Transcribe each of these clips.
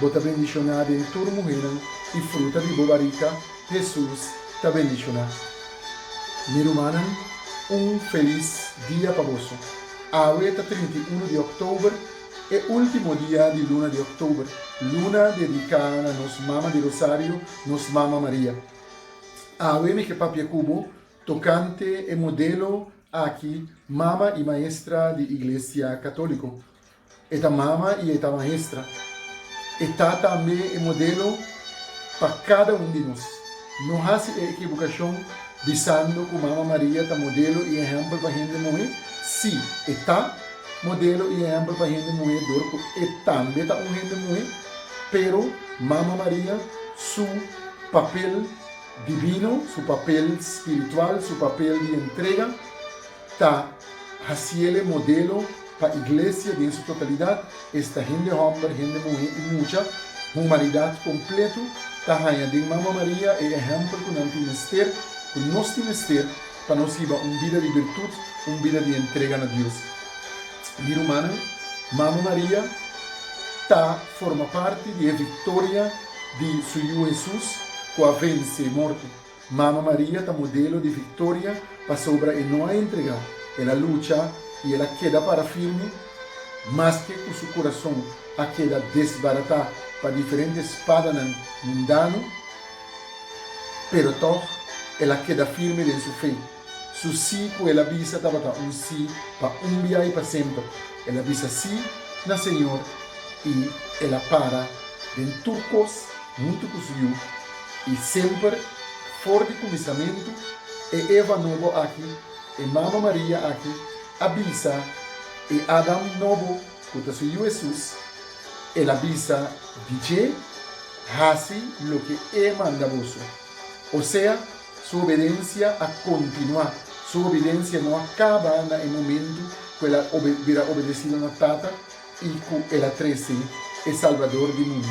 Bo ta bendishoná den tur muhénan, i fruta di bo barika, Hesus, ta bendishoná. Mi rumannan, un felis dia pa boso. Awe ta trinta i unu di òktober, e último dia di luna di òktober, luna dediká na nos Mama di Rosario, nos Mama Maria. Awe mi ke papia ku bo tokante e modelo aki, Mama i Maestra di Iglesia Katóliko. E ta mama i e ta maestra. E ta tambe e modelo pa kada un di nos. No hasi e ekibokashon bisando ku Mama Maria ta modelo i ehèmpel pa hende muhé. Sí, e ta modelo i ehèmpel pa hende muhé dor ku e tambe ta un hende muhé, pero Mama Maria su papel divino, su papel spiritual, su papel di entrega, ta hasiel e modelo pa iglesia den su totalidat, esta hende homber, hende muhe i mucha, humanidat kompletu, ta haña den Mama Maria e ehèmpel ku nan tin mester, ku nos tin mester, pa nos hiba un bida di birtut, un bida di entrega na Dios. Mi rumannan, Mama Maria ta forma parti di e viktoria di Su Yu Hesus ku a vense morto. Mama Maria ta modelo di victoria pasobra e no a entrega, el a lucha y el a keda para firme maske cu su curason a keda desbarata pa diferente spadanan mundano, pero tog el a keda firme den su fe. Su sí ku el a bisa tabata un sí pa un bia i pa semper. El a bisa sí na Señor i el a para den tur kos huntu ku su Yu. I semper for di kuminsamentu, e Eva nobo aki, e mama Maria aki, a bisa e Adam nobo ku ta su Yu Hesus, el a bisa di dje, Hasi loke E manda boso. Osea, Su obedensia a kontinuá. Su obedensia no a kaba na e momentu ku el a bira obedesido na Tata i ku el a trese e Salbador di mundu.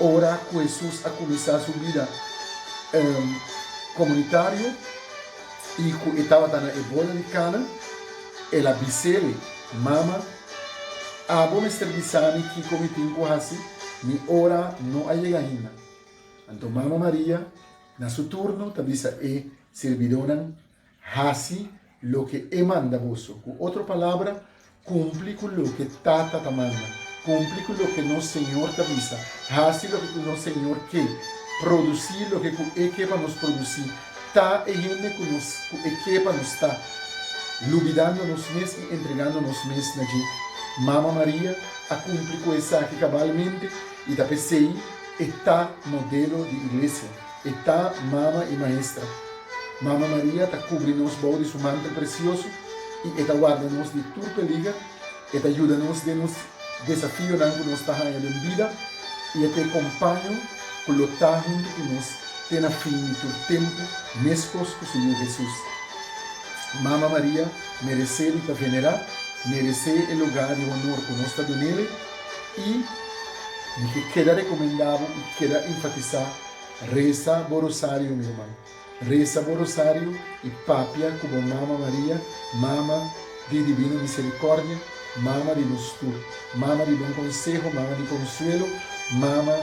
Ora ku Hesus a kuminsá su bida komunitario i ku e tabata na e boda di Kana, el a bis'el, Mama, abo mester bisa mi kiko mi tin ku hasi, mi ora no a yega ainda. Anto Mama Maria Na su turno ta bisa e sirbidónan, Hasi loke E manda boso. Ku otro palabra, kumpli ku loke Tata ta manda. Kumpli ku loke nos Señor ta bisa. Hasi loke ku nos Señor ke. Produsí loke ku E ke pa nos produsí. Ta e hende ku nos ku E ke pa nos ta, lubidando nos mes i entregando nos mes na dje. Mama Maria a kumpli ku esaki kabalmente. I ta p'esei e ta modelo di Iglesia. E ta Mama i Maestra. Mama Maria ta kubri nos bou di su mantel presioso i e ta warda nos di tur peliger. E ta yuda nos den nos desafionan ku nos ta haña den bida i e ta e kompaño ku lo ta huntu ku nos te na fin di tur tempu, meskos ku su Yu Hesus. Mama Maria meresé di ta venerá, meresé e lugá di honor ku nos ta dun'e. i di ke keda rekomendá bo i keda enfatisá, Resa bo rosario, mi ruman. Resa bo rosario i papia ku bo Mama Maria, Mama di Divino Miserikòrdia, Mama di nos tur, Mama di bon konseho, Mama di konsuelo, Mama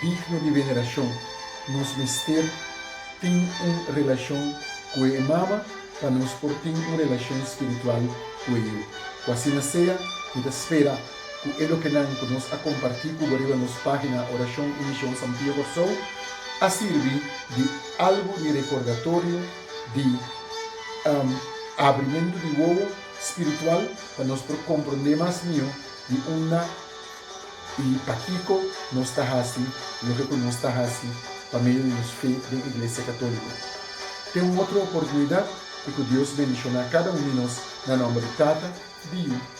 digno di venerashon. Nos mester tin un relashon ku e Mama pa nos por tin un relashon spiritual ku e yu. Ku asina sea, mi ta spera. ku e lokenan ku nos a kompartí ku bo riba nos página Orashon i Mishon Santo Pia Kòrsou a sirbi di algu di rekordatorio di abrimentu di wowo spiritual pa nos por komprondé mas mihó di unda i pakiko nos ta hasi loke ku nos ta hasi pa medio di nos fe den Iglesia Katóliko. Te un otro oportunidat i ku Dios bendishoná kada un di nos na nòmber di Tata, di Yu.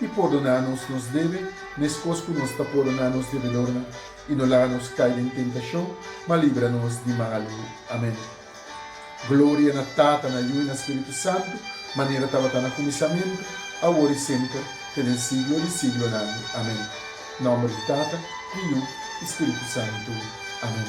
i pordoná nos nos debe, meskos ku nos ta pordoná nos debedornan. I no laga nos kai den tentashon, ma libra nos di malu. Amèn. Gloria na Tata, na Yu i na Spiritu Santu, manera tabata na kuminsamentu, awor i semper, te den siglo di siglonan. Amèn. Nòmber di Tata, di Yu i Spiritu Santu. Amèn.